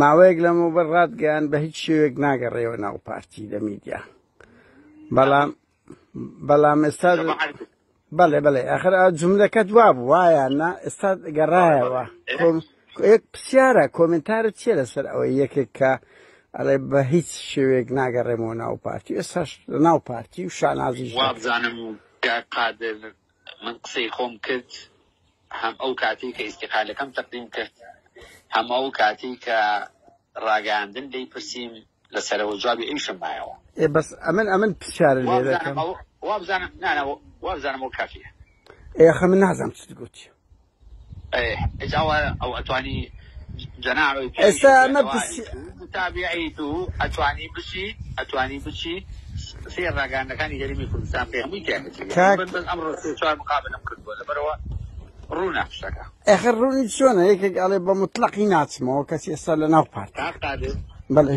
ماوەیەک لەمە بەر ڕاتگەیان بە هیچ شێوێک ناگەڕێەوە ناو پارتی لە میدیا بەڵام بەڵام ئێستا بەڵێ بەڵێ ئەخر جملەکەت وا بوو وایە نا ئێستا گەڕایەوە یەک پرسیارە کۆمنتارە چیە لەسەر ئەوەی یەکێک کە ئەڵێ بە هیچ شێوێک ناگەڕێمەوە ناو پارتی ئێستا ناو پارتی و شانازی وابزانم قادر من قسەی خۆم کرد هەم ئەو کاتەی کە ئیستیقالەکەم تەقدیم کرد هەم ئەو کاتەی کە ڕاگەیاندن لێی پرسیم لە سەرەوە جوابی ئەویشم مایەوە. ئێ بەس ئەمن ئەمن پرسیارە لێ دەکەم. وابزانم وابزانم وابزانم ئەو کافیە. ئێ ئەخە من نازانم چت گوت. ئێستا ئەمە ئەخر ڕوونی چۆنە یەکێک ئەڵێ بە مطلقی ناچمەوە کەچی ئێستا لە ناو پارت بەڵێ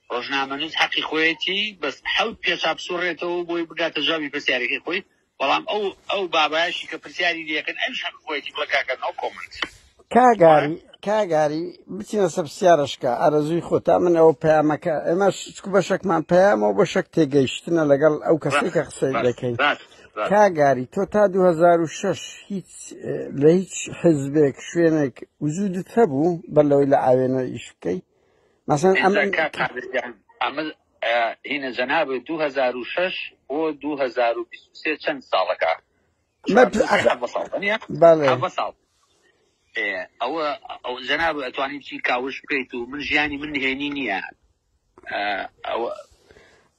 ڕۆژنامەنووس حەقی خۆیەتی بەس حەوت پێچا بسوڕێتەوەو بۆی بگاتە جوابی پرسیارەکەی خۆی بەڵام ئەو ئەو بابایەشی کە پرسیاری لێکرد ئەویش حەقی خۆیەتی بڵێ کاکە نۆ کۆمێنت. کاگاری کاگاری بچینە سەر پرسیارەشکە ئارەزووی خۆتە من ئەوە پەیامەکە ئێمەش چکو بەشەکمان پەیامەوە بەشەک تێگەیشتنە لەگەڵ ئەو کەسەی کە قسەی دەکەین کاگاری تۆ تا 2006 هیچ لە هیچ حزبێک شوێنێک وجودت هەبوو بەر لەوەی لە ئاوێنە ئیش بکەیت مەسەن ئەمە هینە جەناب 2006 بۆ 2023 چەند ساڵەکە ئەوە ئەو جەناب ئەتوانین چی کاوش بکەیت و من ژیانی من نهێنی نییە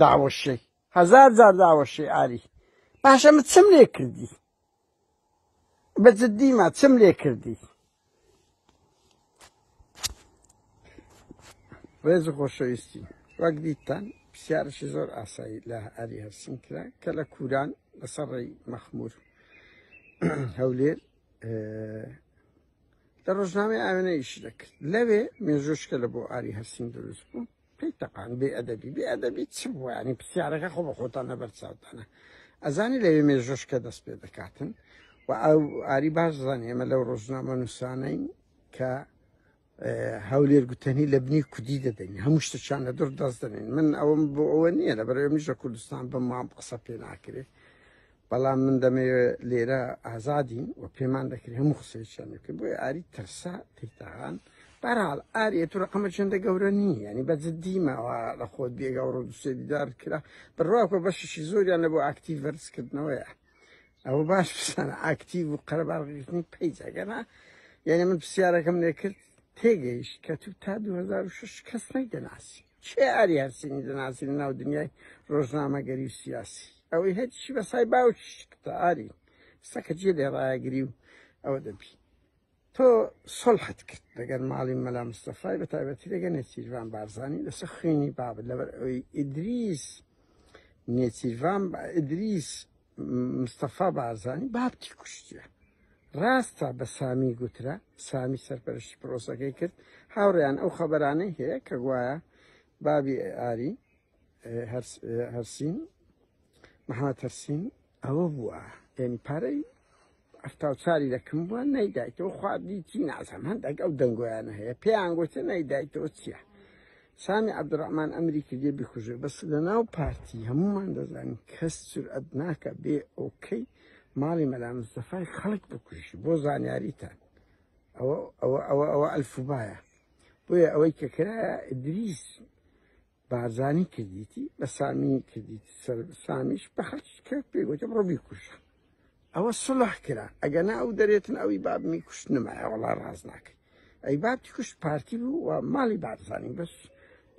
داوەشێی هەزار جار داوەشێی ئاری باشە من چم لێ کردی بە جدیمە چم لێ کردی ڕێز و خۆشەویستی وەک دیتان پرسیارشی زۆر ئاسایی لە ئاری هەرسین کرا کە لە کوران لەسەر ڕێی مەخمور هەولێر لە ڕۆژنامەی ئاوێنەیش دەکرد لەوێ مێژۆشکە لە بۆ ئاری هەرسین دروست بوو پێی تەقان بێ ئەدەبی بێ ئەدەبی چ بووانی پرسیارەکە خۆ بە خۆتان لەبەر چاوتانە ئەزانی لەوێ مێژۆشکە دەست پێ دەکاتن و ئەو ئاری باش زانانی ئێمە لەو ڕۆژنامە نووسانین کە هەولێر گوتەنی لە بنی کودی دەدەین هەموو شتەچان لە دوور دەست دەنێن من ئەوم بۆ ئەوە نییە لە بەرەوە میژە کوردستان بە مام قسە پێ ناکرێت بەڵام من دەمەوێ لێرە ئازادین و پێمان دەکرێت هەموو قسەیان بکەین بۆی ئاری ترسا تیتاغان بەرحاڵ ئاریە تو ڕقەمە چنددە گەورە نییە ینی بە جددیمەوە لە خۆت بێگە ڕۆ دوسێ دیدار کرا بڕواکە بەشیشی زۆریان لە بۆ ئاکتی ڤەرزکردنەوەیە ئەوە باش بسان ئاکتیو و قەرەبارڕیژنی پیجەگەنا یعنی من پرسیارەکەم لێکرد تێگەیش کە تو تا 2006 کەس نەی دەناسی کێ ئاری هەرسینی دەناسی لە ناو دنیای ڕۆژنامەگەری و سیاسی ئەوەی هەرچی بە سای باوکی شکتە ئاری سەکە جێ لێ ڕایەگری و ئەوە دەبی تۆ سڵحت کرد لەگەر ماڵی مەلا مستەفای بە تایبەتی لەگە نێچیرڤان بارزانانی لەسەر خوێنی بابت لەبەر ئەوی ئیدریس نێچیرڤان ئیدریس مستەفا بارزانی بابتی کوشتە ڕاستە بە سامی گوترا سامی سەرپەرشتی پرۆسەکەی کرد هاوڕیان ئەو خەبەرانەی هەیە کە گوایە بابی ئاری هەرسین محمد هەرسین ئەوە بووە یعنی پارەی هەفتا و چاری دەکم بووە نەیدایتەوە خوابی چی نازم هەندێک ئەو دەنگۆیانە هەیە پێیان گوتە نەیدایتەوە چییە سامی عبدڕحمان ئەمری کردێ بکوژێ بەس لە ناو پارتی هەمومان دەزانین کەس جورئەت ناکە بێ ئۆکەی ماڵی مەلا مستەفای خەڵک بکوژی بۆ زانیاریتان ئەوە ئەوە ئەوە ئەوە ئەلفوبایە بۆیە ئەوەی کە کرایە دریس بارزانی کردیتی بە سامی کردیتی سەر سامیش بە حەقی کرد پێی گوتم ڕۆ بیکوژە ئەوە سڵح کرا ئەگەنا ئەو دەرێتن ئەوی بابمی کوشت نمایە وڵا ڕاز ناکەی ئەی بابتی کوشت پارتی بوو و ماڵی بارزانی بەس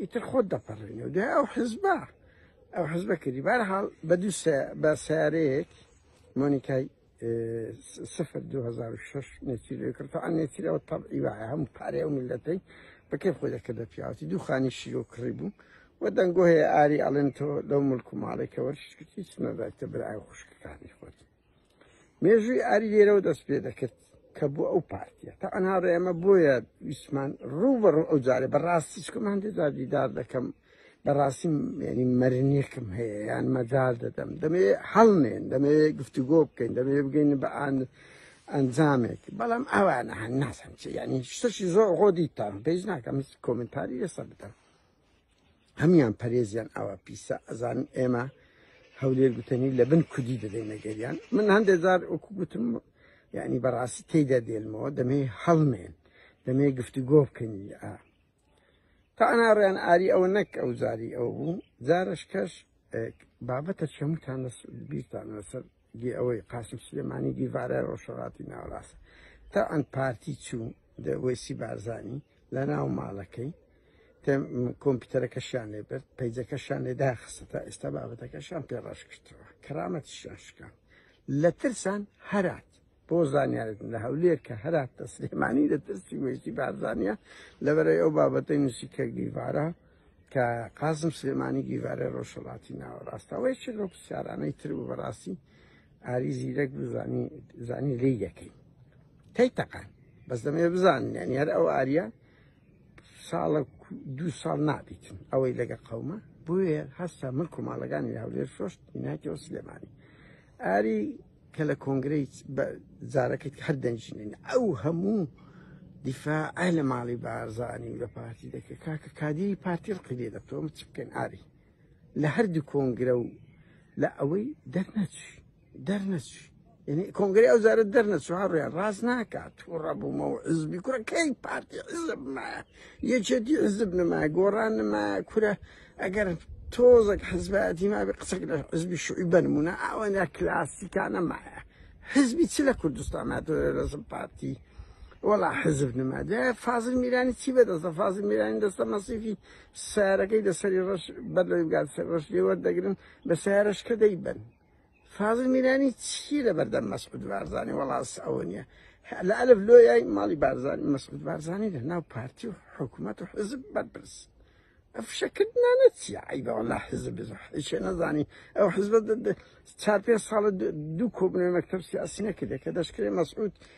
ئیتر خۆت دەپەڕێنێ و دوای ئەو حزبە ئەو حزبە کردی بارحاڵ بە دوو بە سیارەیەک مۆنیکای سفر دو هزار و شش نێچیرەوەی کرد تەعا نێچیرەوە تەبعی وایە هەموو پارەی ئەو میلەتەی بە کێ خۆی دەکردە پیاوەتی دوو خانی شیرۆ کڕی بوو و دەنگۆ هەیە ئاری ئەڵێن تۆ لەو ملک و ماڵێکە وەرشکرد هیچ نەدایتە برای خوشکەکانی خۆت مێژووی ئاری لێرەوە دەست پێ دەکرد کە بۆ ئەو پارتیە تا ئەنها ڕێمە بۆیە ویسمان ڕوو بەڕوو ئەو جارێ بەڕاستی چکمان دێدا دیدار دەکەم بەڕاستی ینی مەرنێکم هەیە یان مەجار دەدەم دەمێ هەڵنێن دەمێ گفتوگۆ بکەین دەمێ بگەین بە ئاند ئەنجامێک بەڵام ئەوانە هەن ناسم چی ینی شتەشی زۆر خۆ دیتان پێیش ناکەم کۆمنتاری لەسەر بدەم هەمان پەرێزیان ئەوە پیسە ئەزان ئێمە هەولێر گوتنی لە بن کودی دەدەینەگەریان من هەندێک جار وەکو گوتم یعنی بەڕاستی تێدا دێنمەوە دەمێ هەڵمێن دەمێ گفتوگۆ بکەنی تانا ڕێن ئاری ئەوە نەک ئەو زاری ئەو بوو جارش کەش بابەتە چەموتان بیرتان لەسەر گێ ئەوەی قاسم سلێمانی دیڤارە ڕۆژەڵاتی ناوەڕاست تا ئەن پارتی چوو دەوەسی بارزانانی لە ناو ماڵەکەی کۆمپیوتەرەکەشیان لێ برد پەیجەکەشان لێ داخستە تا ئێستا بابەتەکەشان پێڕاش کردەوە کەرامەتیشان شکان لە ترسان هەرات بۆ زانیارێتن لە هەولێر کە هەراتە سلێمانی لە ترسی وێستی بارزانە لەبەرەی ئەو بابەتەی نووسی کە گیڤارە کە قازم سلێمانی گیڤارە ڕۆژهڵاتی ناوەڕاستەوەی چ لەو پرسیارانەی تر و بەڕاستی ئاری زیرەک بزانی زانی لی یەکەی تی تەقان بەس دەمێ بزانیان یار ئەو ئاریا ساڵە دوو ساڵ نابیتن ئەوەی لەگە قەومە بۆیە هەستا ملک و ماڵەکانی هەولێر شۆشت ناکەەوە سلێمانی ئاری کە لە کۆنگرەی جارەکەت هەر دەنجنین ئەو هەموو دیفاع لە ماڵی بارزانانی و لە پارتی دەکرد کاکە کادیری پارتی ڕقی لێ دەتۆم چ بکەن ئاری لە هەردوو کۆنگرە و لە ئەوەی دەرنەچی دەرنەچی یعنی کۆنگری ئەو زارە دەرنەچوە ڕێ ڕاست ناکات تووڕە بوومە و عزبی کوڕەکەی پارتی عزب مایە یەکێتی عزب نمایە گۆڕان نمایە کورە ئەگەر تۆزەک حزبایەتی مابێ قسەک لە حزبی شوعی بەنمونە ئەوەنە کلاسیکانە مایە حزبی چ لە کوردستان هاتووە لەزم پارتی وەڵا حزب نما دە فازل میرانی چی بەدەستە فازل میرانی دەستە مەسیفی سارەکەی دەسەری ڕەش بەرلەوەی بگات سەر ڕەش لێوەردەگرن بە سارەشکە دەیبن فازل میرانی چی لە بەردەم مەسعود بارزانانی وەڵاس ئەوە نییە لە ئەلف لۆیای ماڵی بارزانانی مەسعود بارزانانی لە ناو پارتی و حکوومەت و حزب بەرپرس ئەفشەکردنانە چیە عیبەوە لا حزب بزشێ نەزانی ئەو حزب چار پێ ساڵە دوو کۆبنەوە مەکتب سیاسی نەکردێت کە دەشکرێ مەسعود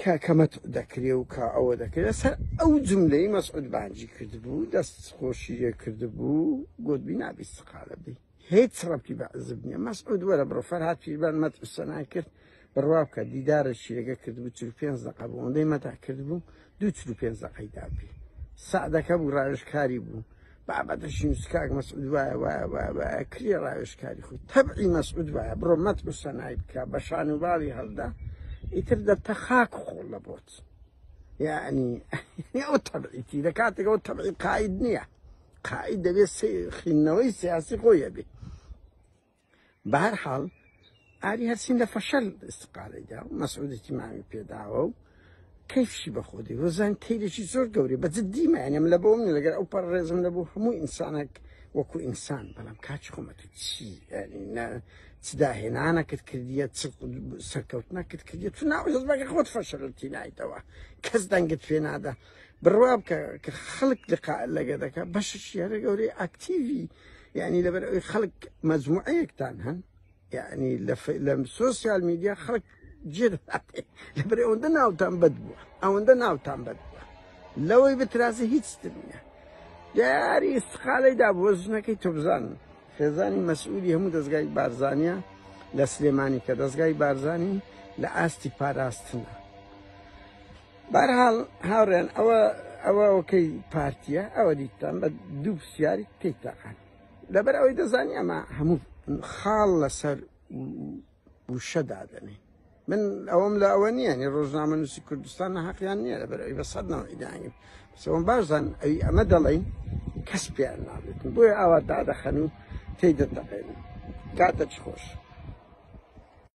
کە کە مەتع دەکرێ و کە ئەوە دەکرێت سەر ئەو جملەی مەسعود بانجی کردبوو دەست خۆشی لێ کردبوو گوتبی نابی سقالە بی هیچ ڕەبتی بە عزب نییە مەسعود وەرە بڕۆ فەرهاد پیربان مەتع سەنای کرد بڕوا بکە دیدارە شیرەکە کردبوو چل پێنج دەقە بوو ئەوەندەی مەتع کردبوو دوو چل پێنج دەقەی دابی سعدەکە بوو ڕاوێژکاری بوو بابەتە شینس کاک مەسعود وایە وایە وایە وایە کری ڕاوێژکاری خۆی تەبعی مەسعود وایە بڕۆ مەت و سەنای بکە بە شان و باڵی هەڵدا ئیتر دەبتە خاک خۆڵ لە بۆت یعنی ئەو تەبعیتی لە کاتێکەوە تەبعی قاید نییە قاید دەبێت خینەوەی سیاسی خۆیە بێت بەهەر حاڵ ئاری هەرسین لە فەشەل استقالەی دا و مەسعودی تیمامی پێداوە و کەیفشی بەخۆدی وەزان کەیلێکی زۆر گەوری بە جدی مەێنم لە بۆم لەگەر ئەو پەر ڕێزم لە بۆ هەموو ئینسانێک وەکو ئینسان بەڵام کاچ خۆمە تو چی چداهێنانەکرد کردیە سەرکەوتنەکرد کردیە تو ناوە هەزبەکە خۆت فەشەلتی نایتەوە کەس دەنگت پێ نادا بڕوا بکە کە خەڵک لقا لەگە دەکە بەشش یارە گەورەی ئاکتیوی یعنی لەبەر ئەوی خەڵک مەزموعەیەکتان هەن یعنی لە سوسیال میدیا خەڵک جێ لەبەر ئەوەندە ناوتان بەد بووە ئەوەندە ناوتان بەد بووە لەوەی بترازە هیچ نیە دیاری استقالەی دا بۆ ژنەکەی تۆبزان خێزانی مەسئولی هەموو دەستگای بارزانیا لە سلێمانی کە دەستگای بارزانانی لە ئاستی پاراستنە بارحاڵ هاوڕێن ئەوە ئەوە ئەوکەی پارتیە ئەوە دیتان بە دوو پرسیاری تێک تاقان لەبەر ئەوەی دەزانی ئەمە هەموو خاڵ لەسەر وشەدادەنێ من ئەوەم لە ئەوە نییە نی ڕۆژنامە نووسی کوردستان نەحقیان نییە لە بەرەوەی بە سەدنەوە ئیدانی سەوم باشدان ئەوی ئەمە دەڵین کەس پێیان نابێت بۆی ئاوا دادەخەن و تێی دەتەقێن کاتە چ خۆش.